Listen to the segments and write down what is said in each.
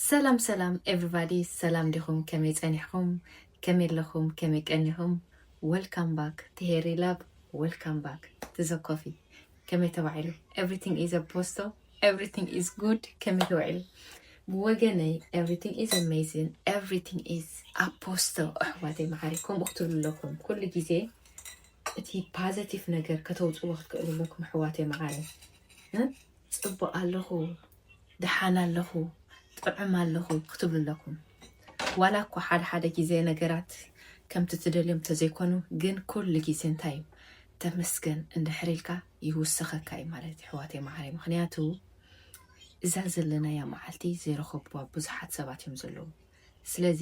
ሰላም ሰላም ኤቭሪባዲ ሰላም ዲኹም ከመይ ጸኒሕኹም ከመይ ኣለኹም ከመይ ቀኒኹም ወልካም ባክ ትሄሪ ላብ ወልካም ባክ ትዘ ኮፊ ከመይ ተባዒሉ ኤቭሪቲንግ ኢዝ አ ፖስቶ ኤቭሪቲንግ ኢዝ ጉድ ከመይ ተባዒሉ ብወገነይ ኤቭሪቲንግ ኢዝ ኣሜዚን ኤቭሪቲንግ ኢዝ ኣፖስቶ ኣሕዋተይ መዓሪ ከምኡ ክትብሉ ኣለኩም ኩሉ ግዜ እቲ ፓዘቲቭ ነገር ከተውፅዎ ክትክእሉ ኣለኩም ኣሕዋተይ መዓሪ ፅቡቅ ኣለኹ ደሓን ኣለኹ ጥዑም ኣለኹ ክትብሉ ኣለኩም ዋላ እኳ ሓደ ሓደ ግዜ ነገራት ከምቲ ትደልዮም ተዘይኮኑ ግን ኩሉ ግዜ እንታይ እዩ ተመስገን እንድሕር ኢልካ ይውሰኸካ እዩ ማለት እዩ ኣሕዋተይ መዓረይ ምክንያቱ እዛ ዘለናያ መዓልቲ ዘይረኸብዋ ብዙሓት ሰባት እዮም ዘለዉ ስለዚ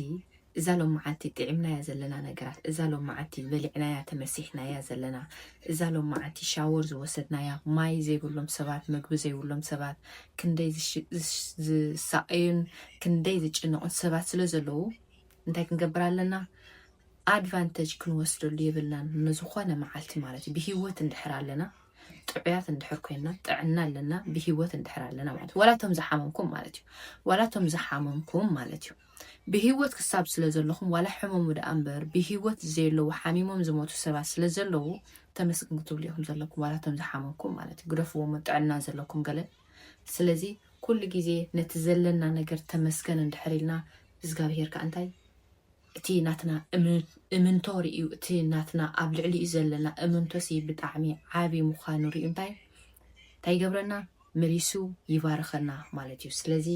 እዛ ሎምዓልቲ ጢዒምናያ ዘለና ነገራት እዛ ሎምዓልቲ በሊዕናያ ተመሲሕናያ ዘለና እዛ ሎምዓልቲ ሻወር ዝወሰድናያ ማይ ዘይብሎም ሰባት መግቢ ዘይብሎም ሰባት ክንደይ ዝሳቀዩን ክንደይ ዝጭነቁን ሰባት ስለ ዘለዉ እንታይ ክንገብር ኣለና ኣድቫንተጅ ክንወስደሉ የብልናን ንዝኾነ መዓልቲ ማለት እዩ ብሂወት እንድሕር ኣለና ጥዑያት እንድሕር ኮይና ጥዕና ኣለና ብሂወት እንድሕር ኣለና ማለት እዩ ዋላቶም ዝሓመምኩም ማለት እዩ ዋላቶም ዝሓመምኩም ማለት እዩ ብሂወት ክሳብ ስለ ዘለኹም ዋላ ሕመሙ ደኣ እምበር ብሂወት ዘየለዉ ሓሚሞም ዝሞቱ ሰባት ስለ ዘለዉ ተመስግን ክትብሉ ኢኹም ዘለኩም ዋላቶም ዝሓመምኩም ማለት እዩ ግደፍዎሞ ጥዕና ዘለኩም ገለ ስለዚ ኩሉ ግዜ ነቲ ዘለና ነገር ተመስገን እንድሕር ኢልና እግዚኣብሄር ከዓ እንታይ እቲ ናትና እምንቶ ርእዩ እቲ ናትና ኣብ ልዕሊኡ ዘለና እምንቶሲ ብጣዕሚ ዓቢ ምዃኑ ርእዩ እንታይ እንታይ ይገብረና መሊሱ ይባርኸና ማለት እዩ ስለዚ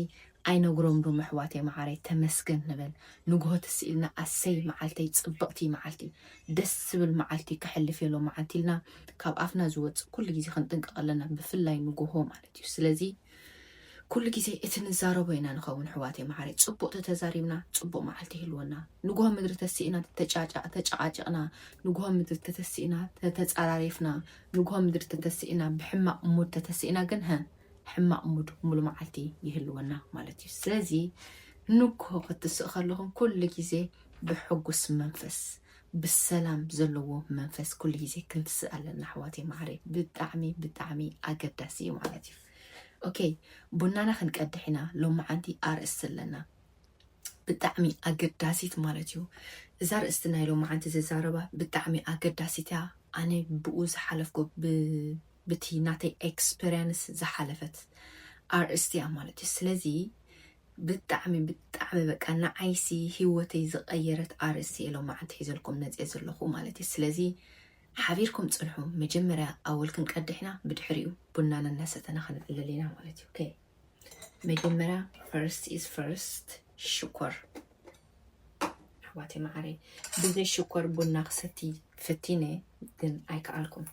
ኣይነግሮም ዶ መሕዋተይ መዓረይ ተመስገን ንበል ንግሆ ትስ ኢልና ኣሰይ መዓልተይ ጽብቕቲ መዓልቲ ደስ ዝብል መዓልቲ ክሕልፍ የሎ መዓልቲ ኢልና ካብ ኣፍና ዝወጽእ ኩሉ ግዜ ክንጥንቀቕ ኣለና ብፍላይ ንግሆ ማለት እዩ ስለዚ ኩሉ ግዜ እቲ ንዛረቦ ኢና ንኸውን ኣሕዋተይ መዓረይ ጽቡቅ ተተዛሪብና ጽቡቅ መዓልቲ ይህልወና ንግሆ ምድሪ ተሲእና ተጨቃጭቅና ንግሆ ምድሪ ተተሲእና ተተጻራሪፍና ንግሆ ምድሪ ተተሲእና ብሕማቅ ሙድ ተተሲእና ግን ሀ ሕማቅ ሙድ ሙሉ መዓልቲ ይህልወና ማለት እዩ ስለዚ ንግሆ ክትስእ ከለኹም ኩሉ ግዜ ብሕጉስ መንፈስ ብሰላም ዘለዎ መንፈስ ኩሉ ግዜ ክንትስእ ኣለና ኣሕዋተይ ማዓረይ ብጣዕሚ ብጣዕሚ ኣገዳሲ እዩ ማለት እዩ ኦኬ ቡናና ክንቀድሕ ኢና ሎማዓንቲ ኣርእስቲ ኣለና ብጣዕሚ ኣገዳሲት ማለት እዩ እዛ ርእስቲ ናይ ሎማዓንቲ ዝዛረባ ብጣዕሚ ኣገዳሲት እያ ኣነ ብኡ ዝሓለፍኩ ብቲ ናተይ ኤክስፐሪንስ ዝሓለፈት ኣርእስቲ እያ ማለት እዩ ስለዚ ብጣዕሚ ብጣዕሚ በቃ ንዓይሲ ሂወተይ ዝቀየረት ኣርእስቲ እየ ሎማዓንቲ ሒዘልኩም መፅየ ዘለኩ ማለት እዩ ስለዚ ሓቢርኩም ፅንሑ መጀመርያ ኣወል ክንቀድሕና ብድሕሪኡ ቡናና እናሰተና ክንዕልል ኢና ማለት እዩ ኦኬ መጀመርያ ፈርስት ኢዝ ፈርስት ሽኮር ኣሕዋተይ መዓረይ ብዘይ ሽኮር ቡና ክሰቲ ፈቲነ ግን ኣይከኣልኩም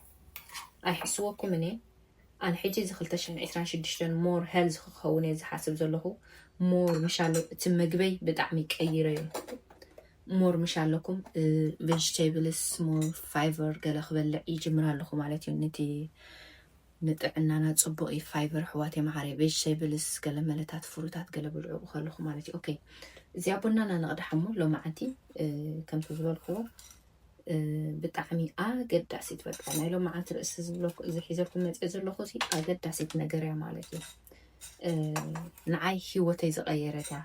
ኣይሕስወኩም እኔ ኣነ ሕጂ እዚ ክልተ ሽሕን ዕስራን ሽዱሽተን ሞር ሄልዝ ክኸውን እየ ዝሓስብ ዘለኹ ሞር ምሻለ እቲ መግበይ ብጣዕሚ ቀይረዮ ሞር ምሽ ኣለኩም ቬጅቴብልስ ሞር ፋይቨር ገለ ክበልዕ ይጅምር ኣለኹ ማለት እዩ ነቲ ንጥዕናና ፅቡቅ እዩ ፋይቨር ሕዋት የመሓረ ቬጅቴብልስ ገለ መለታት ፍሩታት ገለ ብልዑ ከለኹ ማለት እዩ ኦኬ እዚኣ ቡናና ነቕዳሕ እሞ ሎማዓንቲ ከምቲ ዝበልክዎ ብጣዕሚ ኣገዳሲት በቃ ናይ ሎምዓንቲ ርእሲ ዝብሎ እዚ ሒዘልኩም መፅ ዘለኹ ሲ ኣገዳሲት ነገር እያ ማለት እዩ ንዓይ ሂወተይ ዝቀየረት እያ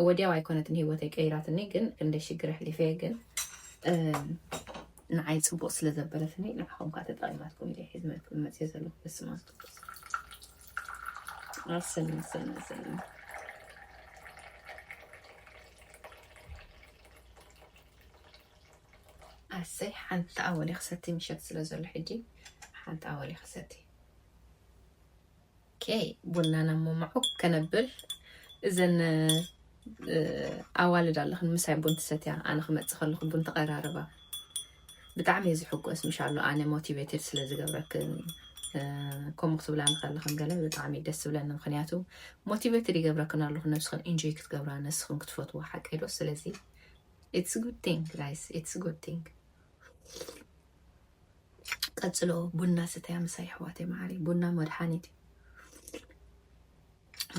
ወዲያው ኣይኮነትን ሂወተይ ቀይራትኒ ግን ክንደይ ሽግር ኣሕሊፈ ግን ንዓይ ፅቡቅ ስለ ዘበለትኒ ንዓኹም ከዓ ተጠቂማትኩም እየ ሒዝመልኩም መፅ ዘለኹ በስመ ኣብ ቅዱስ ኣሰና ኣሰና ኣሰና ኣሰይ ሓንቲ ኣወሊ ክሰቲ ምሸት ስለ ዘሎ ሕጂ ሓንቲ ኣወሊ ክሰቲ ኬ ቡና ናብ መማዑ ከነብል እዘን ኣዋልድ ኣለኽን ምሳይ ቡን ትሰትያ ኣነ ክመፅእ ከለኹ ቡን ተቐራርባ ብጣዕሚ እየ ዝሕጎስ ምሻሎ ኣነ ሞቲቬትድ ስለ ዝገብረክን ከምኡ ክትብላ ንከለኽን ገለ ብጣዕሚ ደስ ዝብለኒ ምክንያቱ ሞቲቬትድ ይገብረክን ኣለኹ ነብስኽን ኢንጆይ ክትገብራ ነስኽን ክትፈትዎ ሓቀ ዶ ስለዚ ኢትስ ጉድ ቲንግ ጋይስ ኢትስ ጉድ ቲንግ ቀጽሎ ቡና ስተያ ምሳይ ኣሕዋተይ መዓሪ ቡና መድሓኒት እዩ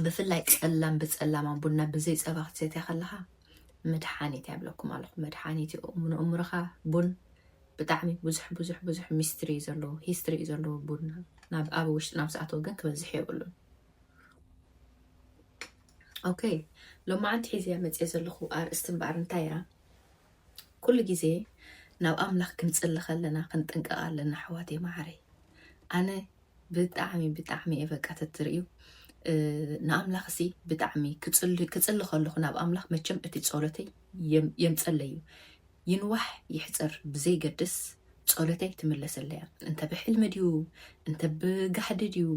ብፍላይ ጸላም ብጸላማ ቡና ብዘይ ጸባ ክትሰትያ ከለኻ መድሓኒት ያብለኩም ኣለኹ መድሓኒት እዩ ንእምሮኻ ቡን ብጣዕሚ ብዙሕ ብዙሕ ብዙሕ ሚስትሪ እዩ ዘለዎ ሂስትሪ እዩ ዘለዎ ቡና ናብ ኣብ ውሽጢ ናብ ዝኣተወ ግን ክበዝሕ የብሉን ok ሎማዓንቲ ሒዘያ መፅየ ዘለኩ ኣርእስቲ እምበኣር እንታይ እያ ኩሉ ግዜ ናብ ኣምላክ ክንፅሊ ከለና ክንጥንቀቅ ኣለና ኣሕዋተይ ማዓረይ ኣነ ብጣዕሚ ብጣዕሚ እየ በቃ ተትርእዩ ንኣምላኽ እሲ ብጣዕሚ ክፅሊ ከለኹ ናብ ኣምላኽ መቸም እቲ ጸሎተይ የምፀለዩ ይንዋሕ ይሕፀር ብዘይገድስ ጸሎተይ ትምለሰለያ እንተ ብሕልሚ ድዩ እንተ ብጋሕዲ ድዩ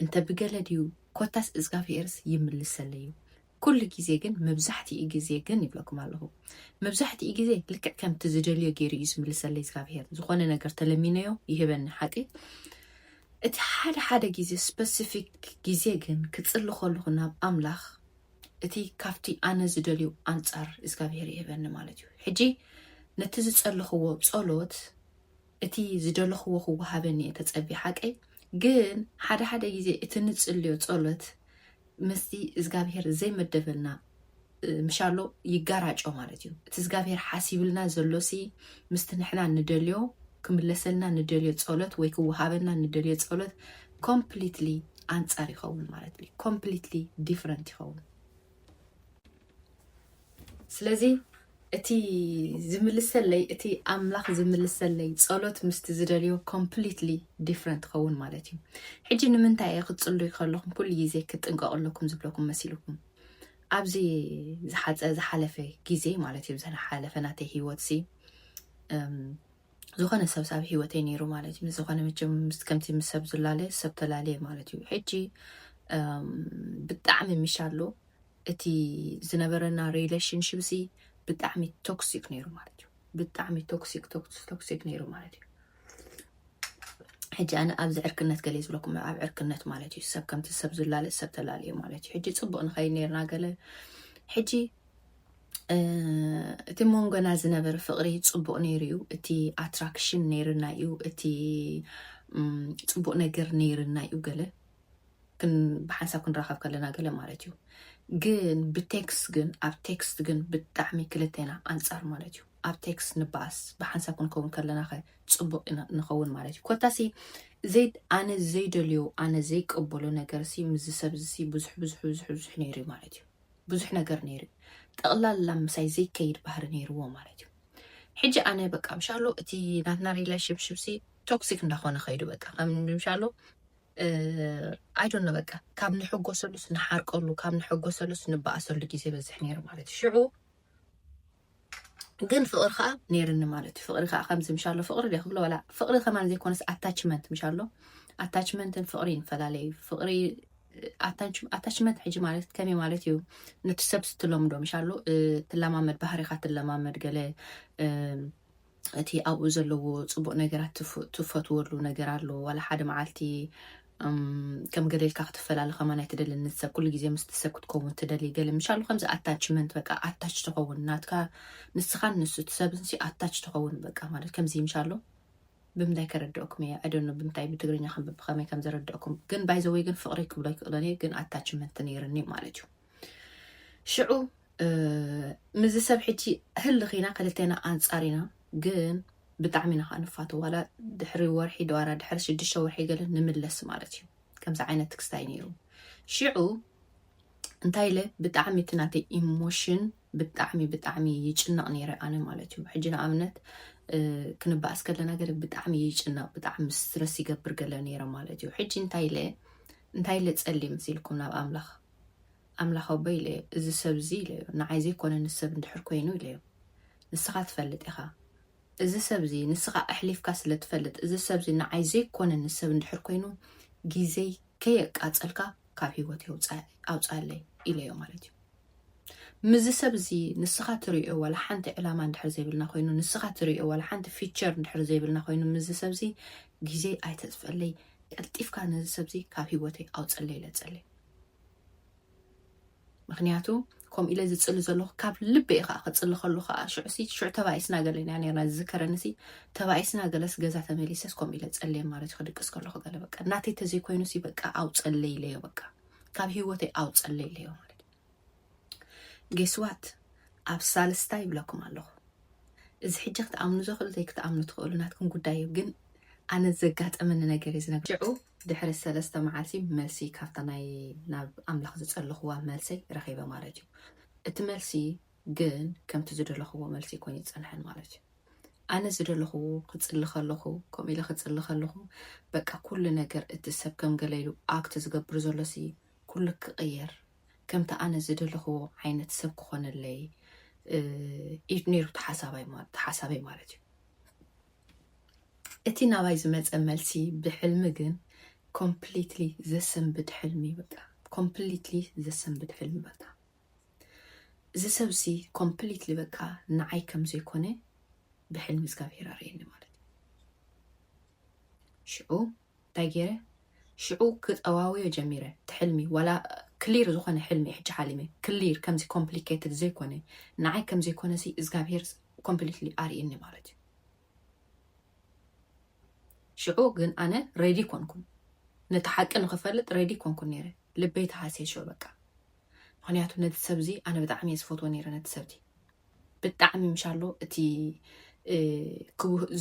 እንተ ብገለ ድዩ ኮታስ እዝጋብሄርስ ይምልሰለይ እዩ። ኩሉ ግዜ ግን መብዛሕትኡ ግዜ ግን ይብለኩም ኣለኹ መብዛሕትኡ ግዜ ልክዕ ከምቲ ዝደልዮ ገይሩ እዩ ዝምልሰለይ እዝጋብሄር ዝኾነ ነገር ተለሚነዮ ይህበኒ ሓቂ እቲ ሓደ ሓደ ግዜ ስፐሲፊክ ግዜ ግን ክጽሊ ከለኹ ናብ ኣምላኽ እቲ ካብቲ ኣነ ዝደልዩ ኣንጻር እግዚኣብሄር ይህበኒ ማለት እዩ ሕጂ ነቲ ዝጸለኽዎ ጸሎት እቲ ዝደለኽዎ ክወሃበኒ እየ ተጸብየ ሓቀይ ግን ሓደ ሓደ ግዜ እቲ ንጽልዮ ጸሎት ምስቲ እዝጋብሄር ዘይመደበልና ምሻሎ ይጋራጮ ማለት እዩ እቲ እዝጋብሄር ሓሲብልና ዘሎሲ ምስቲ ንሕና ንደልዮ ክምለሰልና ንደልዮ ጸሎት ወይ ክወሃበና ንደልዮ ጸሎት ኮምፕሊትሊ ኣንጻር ይኸውን ማለት እዩ ኮምፕሊትሊ ዲፍረንት ይኸውን ስለዚ እቲ ዝምልሰለይ እቲ ኣምላኽ ዝምልሰለይ ጸሎት ምስቲ ዝደልዮ ኮምፕሊትሊ ዲፍረንት ኸውን ማለት እዩ ሕጂ ንምንታይ እየ ክትጽሉይ ከለኹም ኩሉ ግዜ ክጥንቀቕ ኣለኩም ዝብለኩም መሲልኩም ኣብዚ ዝሓፀ ዝሓለፈ ግዜ ማለት እዩ ዝሓለፈ ናተይ ሂወት ሲ ዝኾነ ሰብ ሳብ ሂወተይ ነይሩ ማለት እዩ ዝኾነ መቸም ከምቲ ምስ ሰብ ዝላለ ሰብ ተላለየ ማለት እዩ ሕጂ ብጣዕሚ ምሻሎ እቲ ዝነበረና ሪለሽንሽፕ ሲ ብጣዕሚ ቶክሲክ ነይሩ ማለት እዩ ብጣዕሚ ቶክሲክ ቶክሲክ ነይሩ ማለት እዩ ሕጂ ኣነ ኣብዚ ዕርክነት ገለ ዝብለኩም ኣብ ዕርክነት ማለት እዩ ሰብ ከምቲ ሰብ ዝላለ ሰብ ተላለዩ ማለት እዩ ሕጂ ፅቡቅ ንኸይ ነርና ገለ ሕጂ እቲ መንጎና ዝነበረ ፍቅሪ ፅቡቅ ነይሩ እዩ እቲ ኣትራክሽን ነይርና እዩ እቲ ፅቡቅ ነገር ነይርና እዩ ገለ ብሓንሳብ ክንራኸብ ከለና ገለ ማለት እዩ ግን ብቴክስት ግን ኣብ ቴክስት ግን ብጣዕሚ ክልቴና ኣንፃር ማለት እዩ ኣብ ቴክስት ንበኣስ ብሓንሳብ ክንከውን ከለና ከ ፅቡቅ ንኸውን ማለት እዩ ኮታሲ ዘይ ኣነ ዘይደልዮ ኣነ ዘይቀበሎ ነገር ሲ ምዚ ሰብ ሲ ብዙሕ ብዙሕ ብዙሕ ብዙሕ ነይሩ እዩ ማለት እዩ ብዙሕ ነገር ነይሩ እዩ ጠቕላላ ምሳይ ዘይከይድ ባህሪ ነይርዎ ማለት እዩ ሕጂ ኣነ በቃ ምሻሎ እቲ ናትና ሪሌሽንሽፕ ሲ ቶክሲክ እንዳኾነ ከይዱ በቃ ከም ምሻሎ ኣይዶኖ በቃ ካብ ንሕጎሰሉስ ንሓርቀሉ ካብ ንሕጎሰሉስ ንበኣሰሉ ግዜ በዝሕ ነይሩ ማለት እዩ ሽዑ ግን ፍቕሪ ከዓ ነይርኒ ማለት እዩ ፍቕሪ ከዓ ከምዚ ምሻሎ ፍቕሪ ደ ክብሎ ወላ ፍቕሪ ከማን ዘይኮነስ ኣታችመንት ምሻሎ ኣታችመንትን ፍቕሪ ይፈላለዩ ፍቕሪ ኣታችመንት ሕጂ ማለት ከመይ ማለት እዩ ነቲ ሰብ ስትለምዶ ምሻሎ ትለማመድ ባህሪካ ትለማመድ ገለ እቲ ኣብኡ ዘለዎ ጽቡቅ ነገራት ትፈትወሉ ነገር ኣሎ ዋላ ሓደ መዓልቲ ከም ገለ ኢልካ ክትፈላለ ከማን ኣይትደልን እቲ ሰብ ኩሉ ግዜ ምስቲ ሰብ ክትከውን ትደሊ ገለ ምሻሉ ከምዚ ኣታችመንት በቃ ኣታች ትኸውን ናትካ ንስኻን ንሱ እቲ ሰብንሲ ኣታች ትኸውን በቃ ማለት ከምዚ ምሻሉ ብምንታይ ከረድኦኩም እየ ኣደኖ ብምንታይ ብትግርኛ ከም ብኸመይ ከም ዘረድኦኩም ግን ባይዘወይ ግን ፍቅሪ ክብሎ ይክእሎን እየ ግን ኣታችመንት ነይርኒ ማለት እዩ ሽዑ ምዚ ሰብ ሕጂ ህልኽ ኢና ክልቴና ኣንጻር ኢና ግን ብጣዕሚ ኢና ከዓ ንፋቶ ዋላ ድሕሪ ወርሒ ድዋራ ድሕሪ ሽዱሽተ ወርሒ ገለ ንምለስ ማለት እዩ ከምዚ ዓይነት ትክስታይ ነይሩ ሽዑ እንታይ ኢለ ብጣዕሚ እቲ ናተይ ኢሞሽን ብጣዕሚ ብጣዕሚ ይጭነቕ ነይረ ኣነ ማለት እዩ ሕጂ ንኣብነት ክንበኣስ ከለና ገለ ብጣዕሚ ይጭነቕ ብጣዕሚ ስትረስ ይገብር ገለ ነይረ ማለት እዩ ሕጂ እንታይ ኢለ እንታይ ኢለ ጸሊ ምስ ኢልኩም ናብ ኣምላኽ ኣምላኽ ኣቦይ ኢለዮ፣ እዚ ሰብ እዚ ኢለዮ፣ ንዓይ ዘይኮነ ንሰብ እንድሕር ኮይኑ ኢለዮ፣ ንስኻ ትፈልጥ ኢኻ፣ እዚ ሰብ እዚ ንስኻ ኣሕሊፍካ ስለ ትፈልጥ፣ እዚ ሰብ እዚ ንዓይ ዘይኮነ ንሰብ እንድሕር ኮይኑ ግዜይ ከየቃጸልካ ካብ ህይወተይ ኣውጽኣለይ ኢለዮ ማለት እዩ። ምስዚ ሰብ እዚ ንስኻ ትርእዮ ዋላ ሓንቲ ዕላማ እንድሕር ዘይብልና ኮይኑ፣ ንስኻ ትርእዮ ዋላ ሓንቲ ፊቸር እንድሕር ዘይብልና ኮይኑ፣ ምስዚ ሰብ እዚ ግዜይ ኣይተጽፈለይ፣ ቀልጢፍካ ነዚ ሰብ እዚ ካብ ህይወተይ ኣውጽኣለይ ኢለ ጸልየ። ምክንያቱ ከምኡ ኢለ ዝፅሊ ዘለኹ ካብ ልበይ ከዓ ክፅሊ ከሉ ከዓ ሽዑሲ ሽዑ ተባኢስና ገለ ኢና ነርና ዝዝከረንሲ ተባኢስና ገለስ ገዛ ተመሊሰስ ከምኡ ኢለ ፀልየ ማለት እዩ ክድቅስ ከለኹ ገለ በቃ ናተይ ተዘይኮይኑሲ በቃ ኣውፀለይ ኢለዮ በቃ ካብ ሂወተይ ኣውፀለይ ኢለዮ ማለት እዩ ጌስዋት ኣብ ሳልስታ ይብለኩም ኣለኹ እዚ ሕጂ ክትኣምኑ ዘኽእሉ ዘይክትኣምኑ ትኽእሉ ናትኩም ጉዳይ እዩ ግን ኣነ ዘጋጠመኒ ነገር እዩ ዝነገር ሽዑ ድሕሪ ሰለስተ መዓልቲ መልሲ ካብታ ናይ ናብ ኣምላኽ ዝጸለኽዋ መልሰይ ረኺበ ማለት እዩ እቲ መልሲ ግን ከምቲ ዝደለኽዎ መልሲ ኮይኑ ይጸንሐን ማለት እዩ ኣነ ዝደለኹ ክጽሊ ከለኹ ከምኡ ኢለ ክጽሊ ከለኹ በቃ ኩሉ ነገር እቲ ሰብ ከም ገለ ኢሉ ኣክት ዝገብር ዘሎ ሲ ኩሉ ክቕየር ከምቲ ኣነ ዝደለኽዎ ዓይነት ሰብ ክኾነለይ እዩ ነይሩ ተሓሳበይ ማለት እዩ እቲ ናባይ ዝመፀ መልሲ ብሕልሚ ግን ኮምፕሊትሊ ዘሰንብድ ሕልሚ በቃ ኮምፕሊትሊ ዘሰንብድ ሕልሚ በቃ እዚ ሰብሲ ኮምፕሊትሊ በቃ ንዓይ ከም ዘይኮነ ብሕልሚ እግዚኣብሄር ኣርእየኒ ማለት እዩ ሽዑ እንታይ ጌረ ሽዑ ክጠዋወዮ ጀሚረ እቲ ሕልሚ ዋላ ክሊር ዝኾነ ሕልሚ እየ ሕጂ ሓሊመ ክሊር ከምዚ ኮምፕሊኬትድ ዘይኮነ ንዓይ ከምዘይኮነ ሲ እዝጋብሄር ኮምፕሊትሊ ኣርእኒ ማለት እዩ ሽዑ ግን ኣነ ሬዲ ኮንኩን ነቲ ሓቂ ንክፈልጥ ሬዲ ኮንኩን ነይረ ልበይ ተሃሴሾ በቃ ምክንያቱ ነቲ ሰብ እዚ ኣነ ብጣዕሚ እየ ዝፈትዎ ነይረ ነቲ ሰብ እቲ ብጣዕሚ ምሻሎ እቲ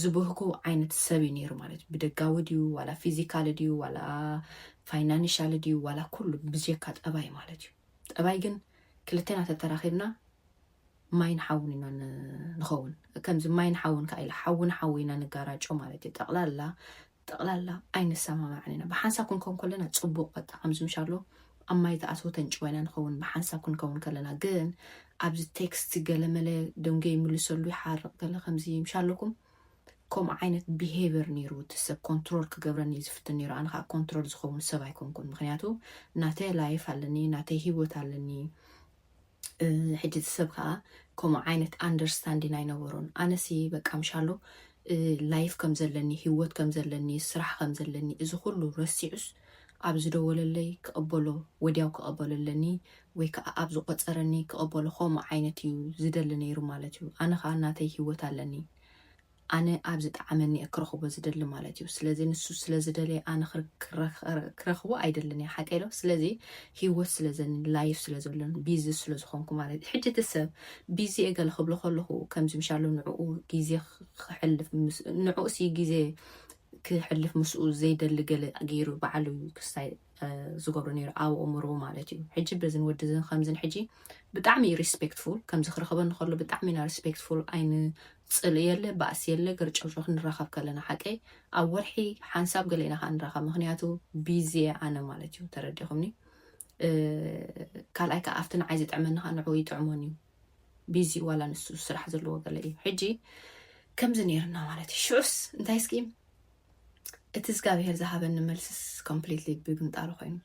ዝብህኩ ዓይነት ሰብ እዩ ነይሩ ማለት እዩ ብደጋዊ ድዩ ዋላ ፊዚካል ድዩ ዋላ ፋይናንሻል ድዩ ዋላ ኩሉ ብዘካ ጠባይ ማለት እዩ ጠባይ ግን ክልቴና ተተራኺብና ማይን ሓውን ኢና ንኸውን ከምዚ ማይን ሓውን ከዓ ኢለ ሓውን ሓው ኢና ንጋራጮ ማለት እዩ ጠቕላላ ጠቕላላ ኣይንሰማማዕን ኢና። ብሓንሳብ ክንከውን ከለና ጽቡቕ በቃ ከምዚ ምሻሎ ኣብ ማይ ተኣትዎ ተንጭዋ ኢና ንኸውን ብሓንሳብ ክንከውን ከለና ግን ኣብዚ ቴክስት ገለመለ ደንጎ ይምልሰሉ ይሓርቕ ገለ ከምዚ ምሻለኩም ከምኡ ዓይነት ቢሄቨር ነይሩ እቲ ሰብ ኮንትሮል ክገብረኒ ዝፍትን ነይሩ ኣነ ከዓ ኮንትሮል ዝኸውን ሰብ ኣይኮንኩን ምክንያቱ ናተይ ላይፍ ኣለኒ ናተይ ሂወት ኣለኒ ሕጂ እቲ ሰብ ከኣ ከምኡ ዓይነት ኣንደርስታንዲን ኣይነበሮን። ኣነሲ በቃ ምሻሎ ላይፍ ከም ዘለኒ፣ ህይወት ከም ዘለኒ፣ ስራሕ ከም ዘለኒ እዚ ኩሉ ረሲዑስ ኣብ ዝደወለለይ ክቕበሎ ወድያው ክቐበሎ ኣለኒ ወይ ከኣ ኣብ ዝቖጸረኒ ክቕበሎ ከምኡ ዓይነት እዩ ዝደሊ ነይሩ ማለት እዩ። ኣነ ከኣ ናተይ ህይወት ኣለኒ። ኣነ ኣብ ዝጠዓመኒ እየ ክረኽቦ ዝደሊ ማለት እዩ ስለዚ ንሱ ስለ ዝደለየ ኣነ ክረኽቦ ኣይደልን እየ ሓቀይ ዶ ስለዚ ሂወት ስለ ዘኒ ላይፍ ስለ ዘሎን ቢዚ ስለ ዝኾንኩ ማለት እዩ ሕጂ እቲ ሰብ ቢዚ እየ ገለ ክብሎ ከለኹ ከምዚ ምሻሎ ንዕኡ ግዜ ክሕልፍ ንዕኡሲ ግዜ ክሕልፍ ምስኡ ዘይደሊ ገለ ገይሩ በዓሉ ክስታይ ዝገብሩ ነይሩ ኣብ እምሩ ማለት እዩ ሕጂ በዝን ወድዝን ከምዝን ሕጂ ብጣዕሚ እዩ ሪስፔክትፉል ከምዚ ክረኸበኒ ከሎ ብጣዕሚ ኢና ሪስፔክትፉል ኣይን ፅል የለ ባእሲ የለ ገርጨውጮ ክንራኸብ ከለና ሓቀይ ኣብ ወርሒ ሓንሳብ ገለ ኢና ከዓ ንራኸብ ምክንያቱ ቢዚ ኣነ ማለት እዩ ተረዲኹምኒ ካልኣይ ከዓ ኣብቲ ንዓይ ዝጥዕመኒ ከዓ ንዕኡ ይጥዕሞን እዩ ቢዚ ዋላ ንሱ ስራሕ ዘለዎ ገለ እዩ ሕጂ ከምዚ ነይርና ማለት እዩ ሽዑስ እንታይ እስኪ እቲ እዝጋብሄር ዝሃበኒ መልስስ ኮምፕሊትሊ ብምንጣሩ ኮይኑ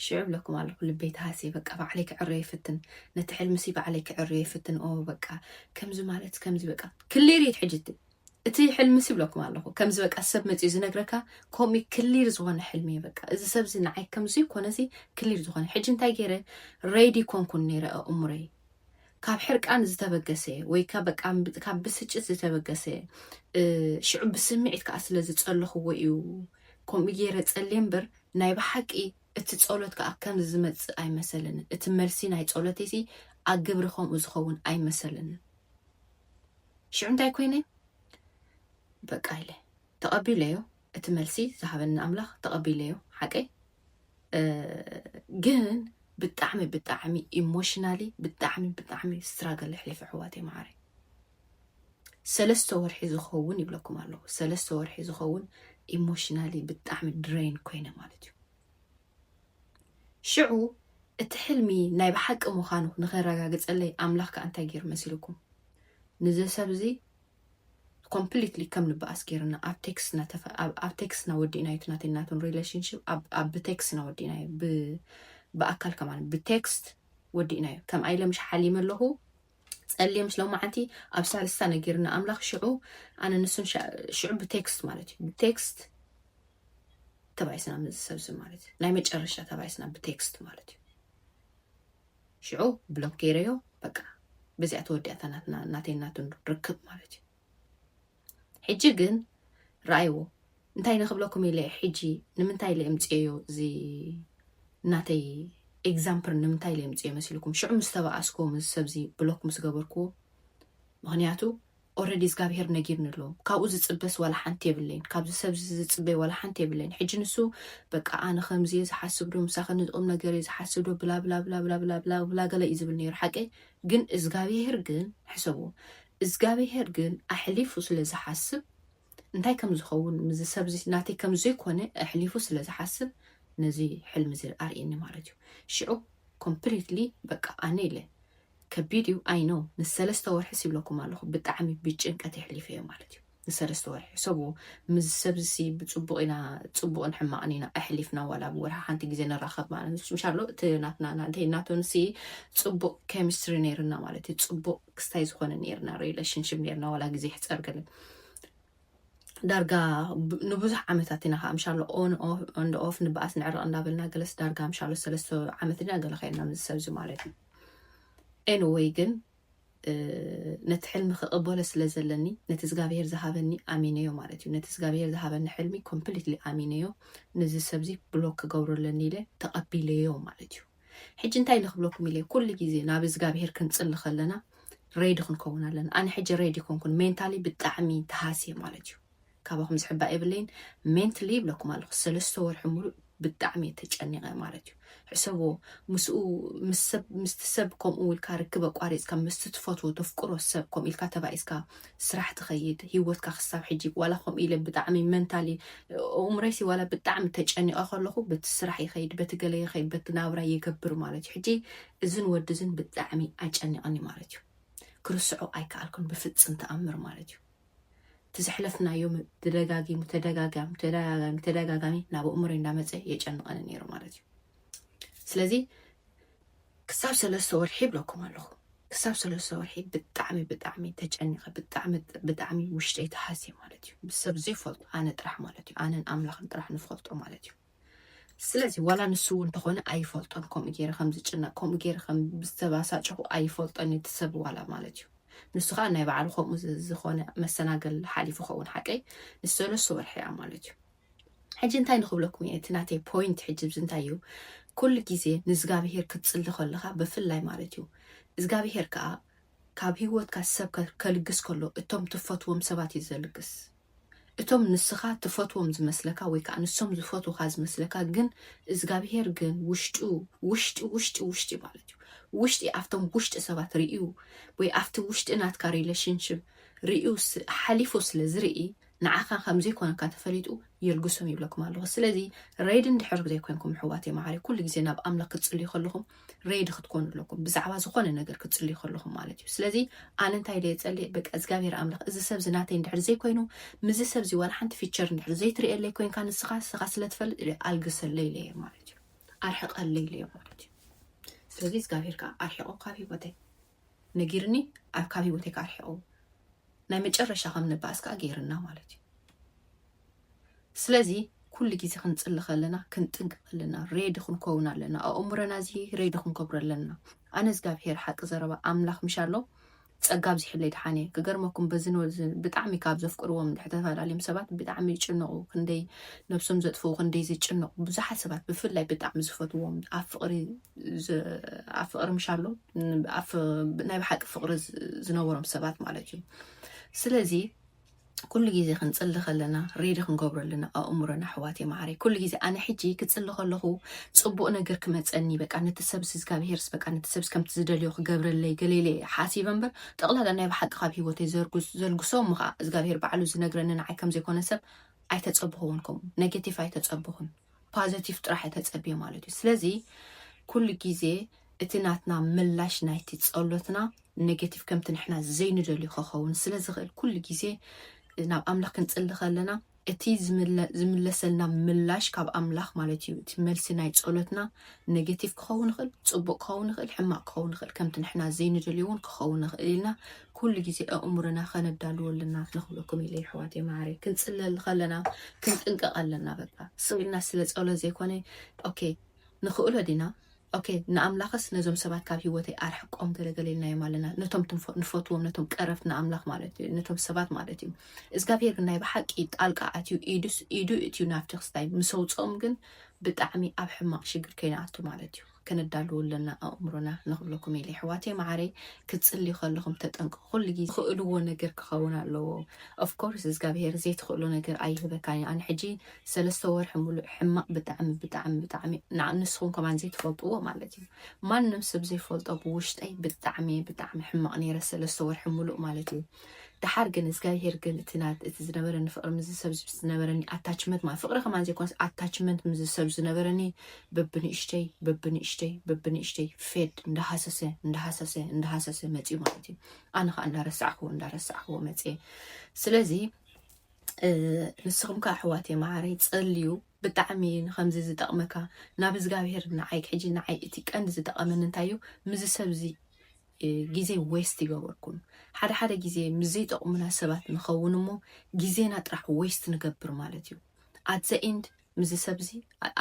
ሽዑ እብለኩም ኣለኹ ልበይ ተሃስየ በቃ ባዕለይ ክዕረዮ ይፍትን ነቲ ሕልምሲ ባዕለይ ክዕረዮ ይፍትን ኦ በቃ ከምዚ ማለት ከምዚ በቃ ክሊር እዩ ሕጂ እቲ እቲ ሕልምሲ እብለኩም ኣለኹ ከምዚ በቃ ሰብ መፅኡ ዝነግረካ ከምኡ ክሊር ዝኾነ ሕልሚ እዩ በቃ እዚ ሰብ እዚ ንዓይ ከምዚ ኮነዚ ክሊር ዝኾነ ሕጂ እንታይ ገይረ ሬዲ ኮንኩን ነይረ ኣእምሮይ ካብ ሕርቃን ዝተበገሰ ወይ ካብ ብስጭት ዝተበገሰ ሽዑ ብስምዒት ከዓ ስለ ዝፀለኽዎ እዩ ከምኡ ገይረ ፀልየ እምበር ናይ ብሓቂ እቲ ጸሎት ከዓ ከምዚ ዝመጽእ ኣይመሰለንን እቲ መልሲ ናይ ጸሎተይ ሲ ኣብ ግብሪ ከምኡ ዝኸውን ኣይመሰለንን ሽዑ እንታይ ኮይነ በቃ ኢለ ተቐቢለዮ እቲ መልሲ ዝሃበኒ ኣምላኽ ተቐቢለዮ ሓቀይ ግን ብጣዕሚ ብጣዕሚ ኢሞሽናሊ ብጣዕሚ ብጣዕሚ ስትራገል ኣሕሊፈ ኣሕዋተይ መዓረይ ሰለስተ ወርሒ ዝኸውን ይብለኩም ኣለኹ ሰለስተ ወርሒ ዝኸውን ኢሞሽናሊ ብጣዕሚ ድረይን ኮይነ ማለት እዩ ሽዑ እቲ ሕልሚ ናይ ብሓቂ ምዃኑ ንኸረጋግፀለይ ኣምላኽ ከዓ እንታይ ገይሩ መሲልኩም ንዚ ሰብ እዚ ኮምፕሊትሊ ከም ንበኣስ ጌርና ኣብ ቴክስ ኢና ተፈ ኣብ ኣብ ቴክስ ኢና ወዲእናዮ እቲ ናተይ ናቶም ሪሌሽንሽፕ ኣብ ኣብ ብቴክስ ኢና ወዲእናዮ ብ ብኣካል ከማን ብቴክስት ወዲእናዮ ከም ኣይለ ምሽ ሓሊመ ኣለኹ ጸልየ ምስ ሎማዓንቲ ኣብ ሳልስታ ነጊርና ኣምላኽ ሽዑ ኣነ ንሱን ሻ- ሽዑ ብቴክስት ማለት እዩ ብቴክስት ተባይስና ምስ ሰብ እዚ ማለት እዩ ናይ መጨረሻ ተባይስና ብቴክስት ማለት እዩ ሽዑ ብሎክ ገይረዮ በቃ በዚኣ ተወዲኣታ ናትና ናተይ ናቱን ርክብ ማለት እዩ ሕጂ ግን ረኣይዎ እንታይ ንክብለኩም ኢለ ሕጂ ንምንታይ ኢለ እምፅዮ እዚ ናተይ ኤግዛምፕር ንምንታይ ኢለ እምፅዮ መሲልኩም ሽዑ ምስ ተባኣስኩዎ ምስ ሰብዚ ብሎክ ምስ ገበርኩዎ ምክንያቱ ኦረዲ እዝጋብሄር ነጊርኒ ኣሎ ካብኡ ዝጽበስ ዋላ ሓንቲ የብለይን ካብዚ ሰብዚ ዝጽበይ ዋላ ሓንቲ የብለይን ሕጂ ንሱ በቃ ኣነ ከምዚ እየ ዝሓስብ ዶ ምሳኺ ነዚ ቁም ነገር እየ ዝሓስብ ዶ ብላብላብላብላብላብላ ገለ እዩ ዝብል ነይሩ ሓቀይ ግን እዝጋብሄር ግን ሕሰቡ እዝጋብሄር ግን ኣሕሊፉ ስለ ዝሓስብ እንታይ ከም ዝኸውን ምዚ ሰብዚ ናተይ ከም ዘይኮነ ኣሕሊፉ ስለ ዝሓስብ ነዚ ሕልሚ እዚ ኣርእየኒ ማለት እዩ ሽዑ ኮምፕሊትሊ በቃ ኣነ ኢለ ከቢድ እዩ ኣይ ኖው ንሰለስተ ወርሕስ ይብለኩም ኣለኹ ብጣዕሚ ብጭንቀት የሕሊፈዮ ማለት እዩ ንሰለስተ ወርሒ ሕሰቡ ምስ ሰብዚሲ ብፅቡቕ ኢና ፅቡቕን ሕማቕን ኢና ኣሕሊፍና ዋላ ኣብ ወርሒ ሓንቲ ግዜ ንራኸብ ማለት ንሱ እንሻሎ እቲ ናትና ናንተይ ናቶንሲ ፅቡቕ ኬሚስትሪ ነይርና ማለት እዩ ፅቡቕ ክስታይ ዝኾነ ነይርና ሪሌሽንሽፕ ነይርና ዋላ ግዜ ይሕፀር ገለ ዳርጋ ንብዙሕ ዓመታት ኢና ከዓ ምሻሎ ኦን እንደ ኦፍ ንበኣስ ንዕረቕ እንዳበልና ገለስ ዳርጋ ምሻሎ ሰለስተ ዓመት ኢና ገለ ከይና ምስ ሰብ እዚ ማለት እዩ ኤንወይ ግን ነቲ ሕልሚ ክቕበሎ ስለ ዘለኒ ነቲ እግዚኣብሄር ዝሃበኒ ኣሚነዮ ማለት እዩ ነቲ እግዚኣብሄር ዝሃበኒ ሕልሚ ኮምፕሊትሊ ኣሚነዮ ነዚ ሰብዚ ብሎክ ክገብሮ ኣለኒ ኢለ ተቐቢለዮ ማለት እዩ ሕጂ እንታይ ኢለ ክብለኩም ኢለ ኩሉ ግዜ ናብ እዝጋብሄር ክንጽሊ ከለና ሬዲ ክንከውን ኣለና ኣነ ሕጂ ሬዲ ኮንኩን ሜንታሊ ብጣዕሚ ተሃስየ ማለት እዩ ካባኹም ዝሕባእ የብለይን ሜንትሊ ይብለኩም ኣለኹ ሰለስተ ወርሒ ሙሉእ ብጣዕሚ እየ ተጨኒቐ ማለት እዩ ሕሰብዎ ምስኡ ምስቲ ሰብ ከምኡ ኢልካ ርክብ ኣቋሪፅካ ምስቲ ትፈትዎ ተፍቅሮ ሰብ ከምኡ ኢልካ ተባኢስካ ስራሕ ትኸይድ ሂወትካ ክሳብ ሕጂ ዋላ ከምኡ ኢለ ብጣዕሚ መንታሊ እእምሮይሲ ዋላ ብጣዕሚ ተጨኒቐ ከለኹ በቲ ስራሕ ይኸይድ በቲ ገለ ይኸይድ በቲ ናብራ ይገብር ማለት እዩ ሕጂ እዝን ወዲ እዝን ብጣዕሚ ኣጨኒቐኒ ማለት እዩ ክርስዖ ኣይከኣልኩን ብፍፅም ተኣምር ማለት እዩ እቲ ዘሕለፍናዮም ተደጋጊሙ ተደጋጋሚ ተደጋጋሚ ተደጋጋሚ ናብ እእምሮይ እንዳመፀ የጨንቐኒ ነይሩ ማለት እዩ ስለዚ ክሳብ ሰለስተ ወርሒ ይብለኩም ኣለኹ ክሳብ ሰለስተ ወርሒ ብጣዕሚ ብጣዕሚ ተጨኒቐ ብጣዕሚ ብጣዕሚ ውሽጠይ ተሃስየ ማለት እዩ ብሰብ ዘይፈልጦ ኣነ ጥራሕ ማለት እዩ ኣነን ኣምላኽን ጥራሕ ንፈልጦ ማለት እዩ ስለዚ ዋላ ንሱ እውን እንተኾነ ኣይፈልጦን ከምኡ ገይረ ከም ዝጭነቅ ከምኡ ገይረ ከም ዝተባሳጨኹ ኣይፈልጦን እቲ ሰብ ዋላ ማለት እዩ ንሱ ከዓ ናይ ባዕሉ ከምኡ ዝኾነ መሰናገል ሓሊፉ ኸውን ሓቀይ ንሰለስተ ወርሒ እያ ማለት እዩ ሕጂ እንታይ ንክብለኩም እየ እቲ ናተይ ፖይንት ሕጂ ብዚ እንታይ እዩ ኩሉ ግዜ ንእዝጋብሄር ክትጽሊ ከለካ ብፍላይ ማለት እዩ እዝጋብሄር ከኣ ካብ ህይወትካ ሰብ ከ- ከልግስ ከሎ እቶም ትፈትዎም ሰባት እዩ ዘልግስ እቶም ንስኻ ትፈትዎም ዝመስለካ ወይ ከዓ ንሶም ዝፈትውካ ዝመስለካ ግን እዝጋብሄር ግን ውሽጡ ውሽጢ ውሽጢ ውሽጢ ማለት እዩ ውሽጢ ኣብቶም ውሽጢ ሰባት ርእዩ ወይ ኣብቲ ውሽጢ ናትካ ሪሌሽንሽፕ ርእዩ ስ- ሓሊፉ ስለ ዝርኢ ንዓኻ ከምዘይኮነካ ተፈሊጡ የልግሶም ይብለኩም ኣለኹ ስለዚ ረይድ እንድሕር ዘይኮንኩም ሕዋተይ መዓረይ ኩሉ ግዜ ናብ ኣምላኽ ክትጽልዩ ከለኹም ረይድ ክትኮኑ ኣለኩም ብዛዕባ ዝኾነ ነገር ክትጽልዩ ከለኹም ማለት እዩ ስለዚ ኣነ እንታይ ደየ ጸልየ በቃ እግዚኣብሔር ኣምላኽ እዚ ሰብ ዝናተይ እንድሕር ዘይኮይኑ ምዚ ሰብ እዚ ዋላ ሓንቲ ፊቸር እንድሕር ዘይትርእየለይ ኮንካ ንስኻ ንስኻ ስለትፈልጥ ኣልግሰለይ ኢለየ ማለት እዩ ኣርሕቀለይ ኢለዮ ማለት እዩ ስለዚ እግዚኣብሔር ከዓ ኣርሕቆ ካብ ሂወተይ ነጊርኒ ኣብ ካብ ሂወተይ ከኣ ኣርሒቁ ናይ መጨረሻ ከም ንባኣስ ከኣ ገይርና ማለት እዩ ስለዚ ኩሉ ግዜ ክንጽሊ ከለና ክንጥንቅቅ ኣለና ሬዲ ክንከውን ኣለና ኣእምሮና እዚ ሬዲ ክንከብሮ ኣለና ኣነ እግዚኣብሄር ሓቂ ዘረባ ኣምላኽ ምሽ ኣሎ ጸጋ ኣብዚሕለይ ድሓን እየ ክገርመኩም በዚ ብጣዕሚ ካብ ዘፍቅርዎም እንድሕር ተፈላለዮም ሰባት ብጣዕሚ ይጭነቑ ክንደይ ነብሶም ዘጥፍኡ ክንደይ ዝጭነቑ ብዙሓት ሰባት ብፍላይ ብጣዕሚ ዝፈትዎም ኣብ ፍቕሪ ኣብ ፍቕሪ ምሻሎ ናይ ብሓቂ ፍቕሪ ዝነበሮም ሰባት ማለት እዩ ስለዚ ኩሉ ግዜ ክንፅሊ ከለና ሬዲ ክንገብሮ ኣለና ኣእምሮና ኣሕዋት ማዕረ ኩሉ ግዜ ኣነ ሕጂ ክፅሊ ከለኹ ፅቡቅ ነገር ክመፀኒ በቃ ነቲ ሰብ ስዝጋብሄርስ በቃ ነቲ ሰብ ከምቲ ዝደልዮ ክገብረለይ ገሌለ ሓሲበ እምበር ጠቕላላ ናይ ብሓቂ ካብ ሂወተይ ዘልግሶ እሞ ከዓ እግዚኣብሄር ባዕሉ ዝነግረኒ ንዓይ ከምዘይኮነ ሰብ ኣይተፀብኹውን ከምኡ ኔጌቲቭ ኣይተፀብኹን ፓዘቲቭ ጥራሕ ተጸቤ ማለት እዩ ስለዚ ኩሉ ግዜ እቲ ናትና ምላሽ ናይቲ ጸሎትና ኔጌቲቭ ከምቲ ንሕና ዘይንደልዩ ከኸውን ስለ ዝኽእል ኩሉ ግዜ ናብ ኣምላኽ ክንጽሊ ከለና እቲ ዝምለሰልና ምላሽ ካብ ኣምላኽ ማለት እዩ እቲ መልሲ ናይ ጸሎትና ኔጌቲቭ ክኸውን ይኽእል ጽቡቅ ክኸውን ይኽእል ሕማቅ ክኸውን ይኽእል ከምቲ ንሕና ዘይንደልዮ እውን ክኸውን ይኽእል ኢልና ኩሉ ግዜ ኣእምሮና ከነዳልዎ ኣለና ንክብለኩም ኢለ የሕዋተይ መዓረይ ክንጽለል ከለና ክንጥንቀቕ ኣለና በቃ ስቕ ኢልና ስለ ጸሎት ዘይኮነ ኦኬ ንኽእሎ ዲና ኦኬ ንኣምላኽስ ነዞም ሰባት ካብ ሂወተይ ኣርሕቆም ገለገለ ኢልናዮም ኣለና ነቶም ንፈትዎም ነቶም ቀረብቲ ንኣምላኽ ማለት እዩ ነቶም ሰባት ማለት እዩ እግዚኣብሄር ግን ናይ ብሓቂ ጣልቃ ኣትዩ ኢዱ እትዩ ናብቲ ክስታይ ምስ ኣውጽኦም ግን ብጣዕሚ ኣብ ሕማቕ ሽግር ከይንኣቱ ማለት እዩ ከነዳሉ ኣለና ኣእምሮና ንክብለኩም ኢለ የሕዋተይ መዓረይ ክትጽልዩ ከለኹም ተጠንቀቁ ኩሉ ግዜ ትኽእልዎ ነገር ክኸውን ኣለዎ of course እዝጋብሄር ዘይትኽእሎ ነገር ኣይህበካን እዩ ኣነ ሕጂ ሰለስተ ወርሒ ሙሉእ ሕማቅ ብጣዕሚ ብጣዕሚ ብጣዕሚ ንዓ ንስኹም ከማን ዘይትፈልጥዎ ማለት እዩ ማንም ሰብ ዘይፈልጦ ብውሽጠይ ብጣዕሚ ብጣዕሚ ሕማቅ ነይረ ሰለስተ ወርሒ ሙሉእ ማለት እዩ ደሓር ግን እዝጋብሄር ግን እቲ ና- እቲ ዝነበረኒ ፍቕሪ ምስ ሰብ ዝነበረኒ ኣታችመንት ማለት ፍቕሪ ከማን ዘይኮነስ ኣታችመንት ምስ ሰብ ዝነበረኒ በብንእሽተይ በብንእሽተይ በብንእሽተይ ፌድ እንዳሃሰሰ እንዳሃሰሰ እንዳሃሰሰ መፅዩ ማለት እዩ ኣነ ከዓ እንዳረሳዕክዎ እንዳረሳዕክዎ መፅየ ስለዚ እ፣ ንስኹም ከዓ ኣሕዋት እየ መዓረይ ፀልዩ ብጣዕሚ እዩ ንከምዚ ዝጠቕመካ ናብ እግዚኣብሄር ንዓይ ሕጂ ንዓይ እቲ ቀንዲ ዝጠቐመኒ እንታይ እዩ ምዚ ሰብ እዚ ግዜ ዌስት ይገበርኩም ሓደ ሓደ ግዜ ምስ ዘይጠቕሙና ሰባት ንኸውን እሞ ግዜና ጥራሕ ዌስት ንገብር ማለት እዩ ኣት ዘ ኢንድ ምዚ ሰብዚ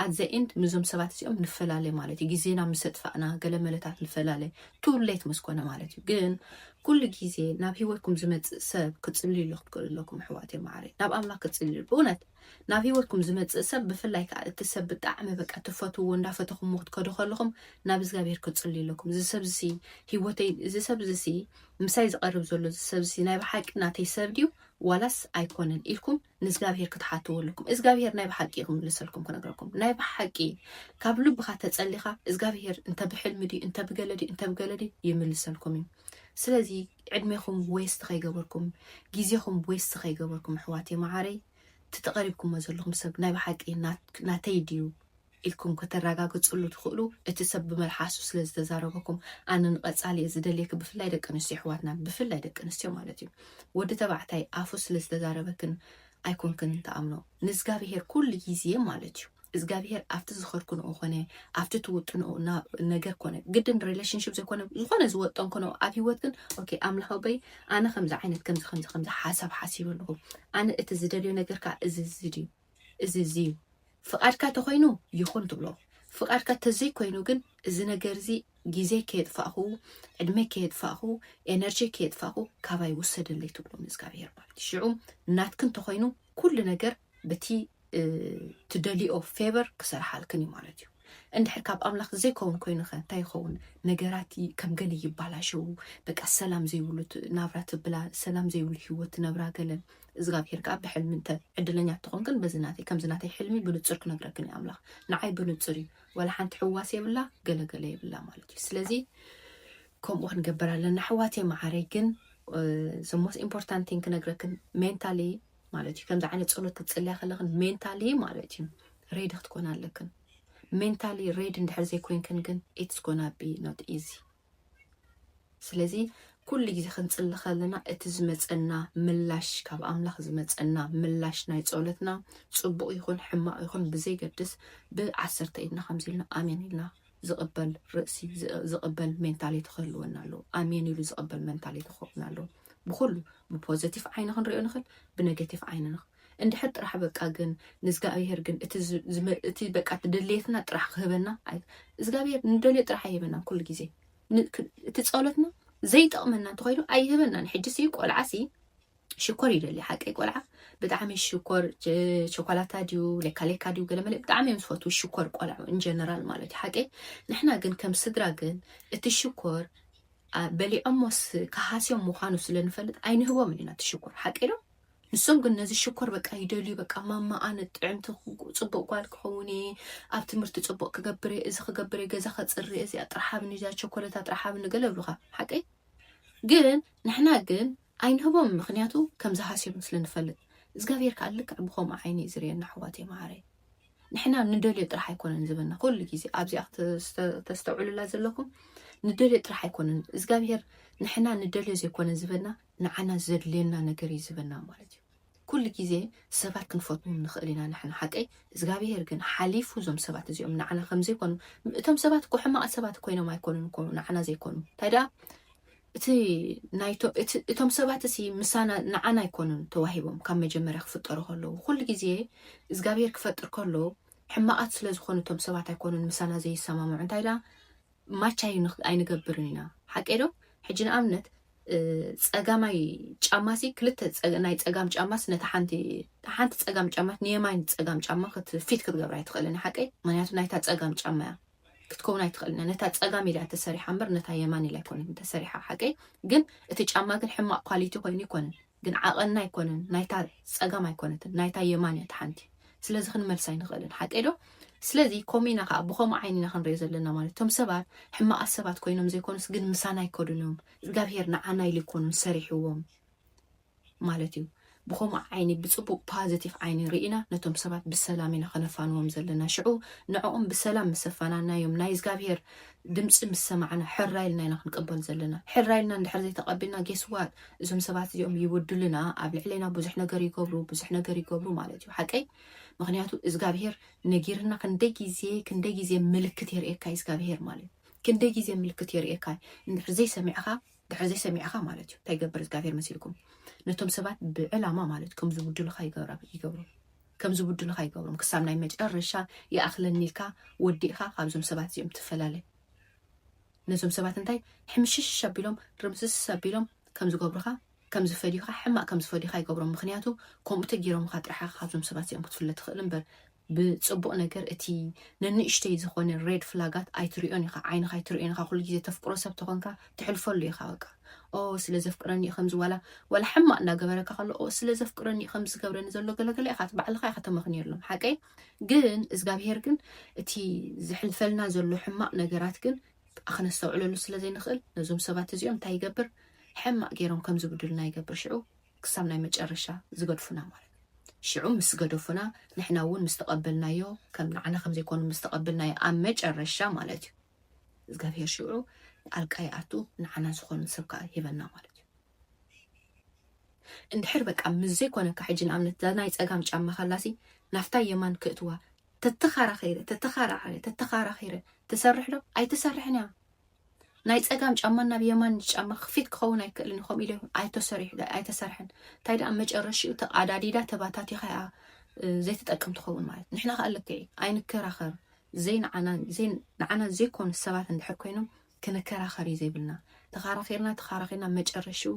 ኣት ዘ ኢንድ ምዞም ሰባት እዚኦም ንፈላለ ማለት እዩ ግዜና ምስ ኣጥፋእና ገለ መለታት ንፈላለ ቱ ሌት ምስ ኮነ ማለት እዩ ግን ኩሉ ግዜ ናብ ሂወትኩም ዝመጽእ ሰብ ክጽልዩሉ ክትክእሉ ኣለኩም ኣሕዋት እየ ማዕረይ ናብ ኣምላኽ ክጽልዩ ብእውነት ናብ ሂወትኩም ዝመጽእ ሰብ ብፍላይ ከኣ እቲ ሰብ ብጣዕሚ በቃ ትፈትውዎ እንዳፈተኹምዎ ክትከዱ ከለኹም ናብ እግዚኣብሄር ክትጽልዩ ኣለኩም እዚ ሰብ እዚ ሂወተይ እዚ ሰብ እዚ ምሳይ ዝቐርብ ዘሎ እዚ ሰብ እዚ ናይ ብሓቂ ናተይ ሰብ ድዩ ዋላስ ኣይኮነን ኢልኩም ንእግዚኣብሄር ክትሓትዎ ኣለኩም እግዚኣብሄር ናይ ብሓቂ እዩ ክምልሰልኩም ክነግረኩም ናይ ብሓቂ ካብ ልብኻ ተጸሊኻ እግዚኣብሄር እንተ ብሕልሚ ድዩ እንተ ብገለ ድዩ እንተ ብገለ ድዩ ይምልሰልኩም እዩ ስለዚ ዕድሜኹም ዌስት ከይገበርኩም ግዜኹም ዌስት ከይገበርኩም ኣሕዋተይ መዓረይ እቲ ተቐሪብኩሞ ዘለኹም ሰብ ናይ ብሓቂ ናተይ ድዩ ኢልኩም ከተረጋግፅሉ ትኽእሉ እቲ ሰብ ብመልሓሱ ስለ ዝተዛረበኩም ኣነ ንቐፃሊ እየ ዝደልየኪ ብፍላይ ደቂ ኣንስትዮ ኣሕዋትና ብፍላይ ደቂ ኣንስትዮ ማለት እዩ ወዲ ተባዕታይ ኣፉ ስለ ዝተዛረበክን ኣይኮንክን ተኣምኖ ንእግዚኣብሄር ኩሉ ግዜ ማለት እዩ እዝጋብሄር ኣብቲ ዝኸርክንኦ ኮነ ኣብቲ ትውጥንኦ ነገር ኮነ ግድን ሪሌሽንሽፕ ዘይኮነ ዝኾነ ዝወጠን ኮነ ኣብ ሂወት ግን ኦኬ ኣምላኽ ኣቦይ ኣነ ከምዚ ዓይነት ከምዚ ከምዚ ከምዚ ሓሳብ ሓሲብ ኣለኹ ኣነ እቲ ዝደልዮ ነገር ከዓ እዚ እዚ ድዩ እዚ እዚ እዩ ፍቓድካ ተኮይኑ ይኹን ትብሎ ፍቓድካ ተዘይኮይኑ ግን እዚ ነገር እዚ ግዜ ከየጥፋእኹ ዕድመ ከየጥፋእኹ ኤነርጂ ከየጥፋእኹ ካባይ ውሰደለይ ትብሎ ንእግዚኣብሄር ማለት እዩ ሽዑ ናትክን ተኮይኑ ኩሉ ነገር ብቲ ትደልይኦ ፌቨር ክሰርሓልክን እዩ ማለት እዩ። እንድሕር ካብ ኣምላኽ ዘይከውን ኮይኑኸ እንታይ ይኸውን? ነገራት ከም ገለ ይባላሸው፣ በቃ ሰላም ዘይብሉ ናብራ ትብላ፣ ሰላም ዘይብሉ ህይወት ትነብራ ገለ እዝጋብሄር ከዓ ብሕልሚ እንተ ዕድለኛ ተኾንክን በዚ ናተይ ከምዚ ናተይ ሕልሚ ብንጹር ክነግረክን እዩ ኣምላኽ ንዓይ ብንጹር እዩ ዋላ ሓንቲ ሕዋስ የብላ ገለገለ የብላ ማለት እዩ ስለዚ ከምኡ ክንገብር ኣለና ኣሕዋትየ መዓረይ ግን ዘሞስ ኢምፖርታንቲን ክነግረክን ሜንታሊ ማለት እዩ ከምዚ ዓይነት ፀሎት ክትፅልያ ከለክን ሜንታሊ ማለት እዩ ሬዲ ክትኮና ኣለክን ሜንታሊ ሬዲ እንድሕር ዘይኮይንክን ግን ኢትስ ጎና ቢ ኖት ኢዚ ስለዚ ኩሉ ግዜ ክንፅሊ ከለና እቲ ዝመፀና ምላሽ ካብ ኣምላኽ ዝመፀና ምላሽ ናይ ፀሎትና ፅቡቕ ይኹን ሕማቕ ይኹን ብዘይገድስ ብዓሰርተ ኢድና ከምዚ ኢልና ኣሜን ኢልና ዝቕበል ርእሲ ዝቕበል ሜንታሊቲ ክህልወና ኣለዎ ኣሜን ኢሉ ዝቕበል ሜንታሊቲ ክኸውን ኣለዎ ብኩሉ ብፖዘቲቭ ዓይኒ ክንሪኦ ንኽእል ብነገቲቭ ዓይኒ ንኽ እንድሕር ጥራሕ በቃ ግን ንእግዚኣብሄር ግን እቲ በቃ እቲ ድሌትና ጥራሕ ክህበና እግዚኣብሄር ንደልዮ ጥራሕ ኣይህበናን ኩሉ ግዜ እቲ ጸሎትና ዘይጠቕመና እንተኮይኑ ኣይህበናን ሕጂ ሲ ቆልዓ ሲ ሽኮር ይደሊ ሓቀይ ቆልዓ ብጣዕሚ ሽኮር ቸኮላታ ድዩ ሌካሌካ ድዩ ገለመለ ብጣዕሚ እዮም ዝፈትዉ ሽኮር ቆልዑ ኢንጀነራል ማለት እዩ ሓቀይ ንሕና ግን ከም ስድራ ግን እቲ ሽኮር በሊዖሞስ ክሃስዮም ምዃኑ ስለንፈልጥ ኣይንህቦም ኢና እቲ ሽኮር ሓቀይ ዶ ንሶም ግን ነዚ ሽኮር በቃ ይደልዩ በቃ ማማ ኣነ ጥዕምቲ ፅቡቅ ጓል ክኸውን እየ ኣብ ትምህርቲ ፅቡቅ ክገብር እየ እዚ ክገብር እየ ገዛ ከፅሪ እዚኣ ጥራሕ ኣብኒ እዚኣ ቸኮለታ ጥራሕ ኣብኒ ገለ ይብሉካ ሓቀይ ግን ንሕና ግን ኣይንህቦም ምክንያቱ ከም ዝሃስዮም ስለ ንፈልጥ እዝጋብሄር ካኣ ልክዕ ብከምኡ ዓይኒ እዩ ዝርእየና ኣሕዋተይ ማዓረይ ንሕና ንደልዮ ጥራሕ ኣይኮነን ዝብና ኩሉ ግዜ ኣብዚኣ ክተስተውዕሉላ ዘለኩም ንደልዮ ጥራሕ ኣይኮነን እዝጋብሄር ንሕና ንደልዮ ዘይኮነ ዝብና ንዓና ዘድልየና ነገር እዩ ዝብና ማለት እዩ ኩሉ ግዜ ሰባት ክንፈትዎም ንክእል ኢና ንሕና ሓቀይ እዝጋብሄር ግን ሓሊፉ እዞም ሰባት እዚኦም ንዓና ከምዘይኮኑ እቶም ሰባት እኮ ሕማቃት ሰባት ኮይኖም ኣይኮኑን እኮ ንዓና ዘይኮኑ እንታይ ደኣ እቲ ናይቶ እቲ እቶም ሰባት እሲ ምሳና ንዓና ኣይኮኑን ተዋሂቦም ካብ መጀመርያ ክፍጠሩ ከለዉ ኩሉ ግዜ እዝጋብሄር ክፈጥር ከሎ ሕማቃት ስለ ዝኾኑ እቶም ሰባት ኣይኮኑን ምሳና ዘይሰማምዑ እንታይ ዳ ማች ኣይንኽ- ኣይንገብርን ኢና ሓቀይ ዶ ሕጂ ንኣብነት እ፣ ጸጋማይ ጫማ ሲ ክልተ ጸ- ናይ ጸጋም ጫማስ ነታ ሓንቲ ሓንቲ ጸጋም ጫማ ንየማይን ጸጋም ጫማ ክት- ፊት ክትገብራ ኣይትኽእልን ሓቀይ ምክንያቱ ናይታ ጸጋም ጫማ እያ ክትከውን ኣይትኽእልን እያ ነታ ፀጋም ኢላ ተሰሪሓ እምበር ነታ የማን ኢላ ኣይኮነትን ተሰሪሓ ሓቀይ ግን እቲ ጫማ ግን ሕማቅ ኳሊቲ ኮይኑ ኣይኮነን ግን ዓቐና ኣይኮነን ናይታ ፀጋም ኣይኮነትን ናይታ የማን እያ ተሓንቲ ስለዚ ክንመልስ ኣይንኽእልን ሓቀይ ዶ ስለዚ ኮሚና ከዓ ብከምኡ ዓይኒ ኢና ክንሪኦ ዘለና ማለት እቶም ሰባት ሕማቃት ሰባት ኮይኖም ዘይኮኑስ ግን ምሳና ኣይከዱን እዮም እግዚኣብሄር ንዓና ኢሉ ይኮኑን ሰሪሕዎም ማለት እዩ ብከምኡ ዓይኒ ብጽቡቅ ፓዘቲፍ ዓይኒ ሪኢና ነቶም ሰባት ብሰላም ኢና ከነፋንዎም ዘለና ሽዑ ንዕኦም ብሰላም ምስ ኣፋናናዮም ናይ እዝጋብሄር ድምጺ ምስ ሰማዕና ሕራይ ኢልና ኢና ክንቅበል ዘለና ሕራይ ኢልና እንድሕር ዘይተቀቢልና ጌስ ዋት እዞም ሰባት እዚኦም ይውድሉና ኣብ ልዕሌና ብዙሕ ነገር ይገብሩ ብዙሕ ነገር ይገብሩ ማለት እዩ ሓቀይ ምክንያቱ እዝጋብሄር ነጊርና ክንደይ ግዜ ክንደይ ግዜ ምልክት የርእየካ እዝጋብሄር ማለት ክንደይ ግዜ ምልክት የርእየካ እንድሕር ዘይሰሚዕካ ድሕሪ ዘይሰሚዕኻ ማለት እዩ ታይ ይገብር እዝጋብሄር መሲልኩም ነቶም ሰባት ብዕላማ ማለት ከም ዝብድሉኻ ይገብሩ ከም ዝብድሉኻ ይገብሮም ክሳብ ናይ መጨረሻ ይኣኽለኒ ኢልካ ወዲእኻ ካብዞም ሰባት እዚኦም ትፈላለ ነዞም ሰባት እንታይ ሕምሽሽ ኣቢሎም ርምስስ ኣቢሎም ከም ዝገብሩኻ ከም ዝፈድዩኻ ሕማቅ ከም ዝፈድዩኻ ይገብሮም ምክንያቱ ከምኡ ተገይሮምኻ ጥራሕኻ ካብዞም ሰባት እዚኦም ክትፍለ ትኽእል እምበር ብጽቡቕ ነገር እቲ ነንእሽተይ ዝኾነ ሬድ ፍላጋት ኣይትሪኦን ኢኻ ዓይንኻ ኣይትሪኦን ኢኻ ኩሉ ግዜ ተፍቅሮ ሰብ ተኾንካ ትሕልፈሉ ኢኻ በቃ ኦ ስለ ዘፍቅረኒ እዩ ከምዚ ዋላ ዋላ ሕማቕ እንዳገበረካ ከሎ ኦ ስለ ዘፍቅረኒ እዩ ከምዚ ዝገብረኒ ዘሎ ገለገለ ኢኻ ባዕልኻ ኢኻ ተመኽንየሎም ሓቀይ ግን እዝጋብሄር ግን እቲ ዝሕልፈልና ዘሎ ሕማቕ ነገራት ግን ኣክነስተውዕለሉ ስለ ዘይንኽእል ነዞም ሰባት እዚኦም እንታይ ይገብር ሕማቕ ገይሮም ከም ዝብዱልና ይገብር ሽዑ ክሳብ ናይ መጨረሻ ዝገድፉና ማለት እዩ ሽዑ ምስ ገደፉና ንሕና እውን ምስ ተቀበልናዮ ከም ንዓና ከም ዘይኮኑ ምስ ተቀብልናዮ ኣብ መጨረሻ ማለት እዩ እግዚኣብሄር ሽዑ ጣልቃ ይኣቱ ንዓና ዝኾኑ ሰብ ከዓ ሂበና ማለት እዩ እንድሕር በቃ ምስ ዘይኮነካ ሕጂ ንኣብነት እዛ ናይ ፀጋም ጫማ ካላሲ ናፍታ የማን ክእትዋ ተተኻራኺረ ተተኻራኸረ ተተኻራኺረ ትሰርሕ ዶ ኣይትሰርሕን እያ ናይ ጸጋም ጫማ ናብ የማን ጫማ ክፊት ክኸውን ኣይክእልን ከምኡ ኢለ ኣይተሰርሐን እንታይ ደኣ መጨረሽኡ ተቃዳዲዳ ተባታቲኻ እያ ዘይትጠቅም ትኸውን ማለት ንሕና ከዓ ልክ ኣይንከራኸር ንዓና ዘይኮኑ ሰባት እንድሕር ኮይኖም ክንከራኸር እዩ ዘይብልና ተኻራኺርና ተኻራኺርና መጨረሽኡ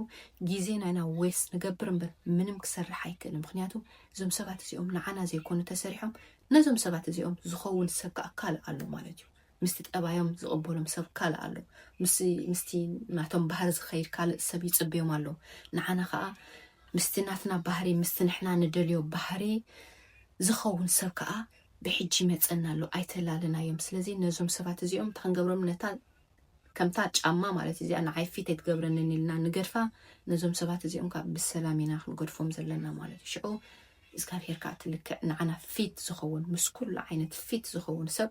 ግዜ ናይና ዌስ ንገብር እምበር ምንም ክሰርሕ ኣይክእልን ምክንያቱ እዞም ሰባት እዚኦም ንዓና ዘይኮኑ ተሰሪሖም ነዞም ሰባት እዚኦም ዝኸውን ሰብ ከዓ ካልእ ኣሎ ማለት እዩ ምስቲ ጠባዮም ዝቕበሎም ሰብ ካልእ ኣሎ፣ ምስ ምስቲ ናቶም ባህሪ ዝኸይድ ካልእ ሰብ ይጽበዮም ኣሎ፣ ንዓና ከኣ ምስቲ ናትና ባህሪ ምስቲ ንሕና ንደልዮ ባህሪ ዝኸውን ሰብ ከኣ ብሕጂ ይመጸና ኣሎ፣ ኣይተላልናዮም፣ ስለዚ ነዞም ሰባት እዚኦም እንታይ ክንገብሮም ነታ ከምታ ጫማ ማለት እዩ እዚኣ ንዓይ ፊት ኣይትገብረንን ኢልና ንገድፋ፣ ነዞም ሰባት እዚኦም ከኣ ብሰላም ኢና ክንገድፎም ዘለና ማለት እዩ፣ ሽዑ እግዚኣብሄር ከኣ እቲ ልክዕ ንዓና ፊት ዝኸውን ምስ ኩሉ ዓይነት ፊት ዝኸውን ሰብ